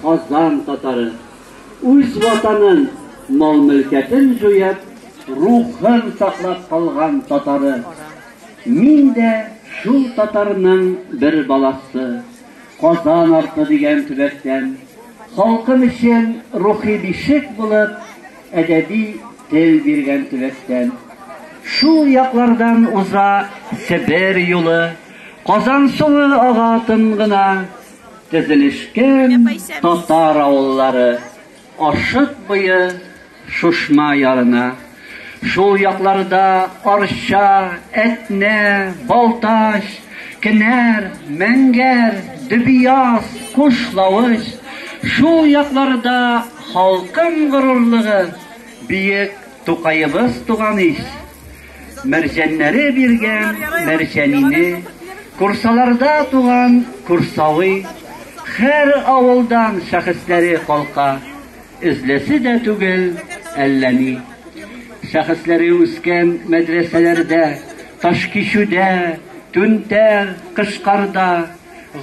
Казан татары үз ватанын, мал-мөлкәтен җуеп, рухын саклап калган татары. Мин дә шул татарның бер баласы. Казан арты дигән төбәктән. Халкым өчен рухи бишек булып, әдәби тел биргән төбәктән. Шул яклардан уза Себер юлы, Казан суы ага тын гына. Төзелешкән татар авыллары Ашык буе Шушма ярына, шул якларда Арча, Әтнә, Балтач, Кенәр, Мәңгәр, Дөбияз, Кушлавыч, шул якларда халкым горурлыгы, биек Тукаебыз туган ич. Мәрҗәннәре биргән мәрҗәнине Курсаларда туган курсавый, Хәр авылдан шәхесләре калка, Эзләсе дә түгел әллә ни. Шәхесләре үскән мәдрәсәләрдә, Ташкичүдә, Түнтәр, Кышкарда,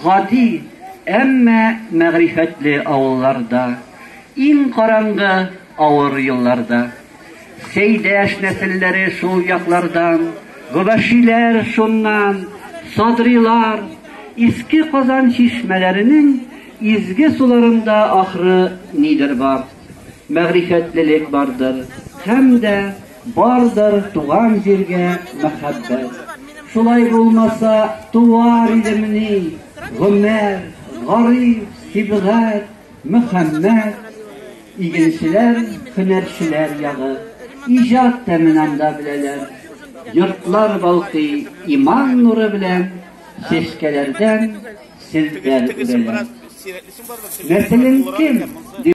Гади, әмма мәгърифәтле авылларда, Иң караңгы авыр елларда. Сәйдәш нәселләре шул яклардан, гобәшиләр шуннан, садрилар, иске Казан чишмәләренең изге суларында ахры нидер бар. Мәгърифәтлелек бардыр һәм дә бардыр туган җиргә мәхәббәт. Шулай булмаса, туар идемни, гомер, гариф, сибгат, Мөхәммәт, игенчеләр, һөнәрчеләр ягы, иҗат тәмен анда беләләр. Йортлар балкый иман нуры белән, чәчкәләрдән селтәр үрәләр. Нәселең кем?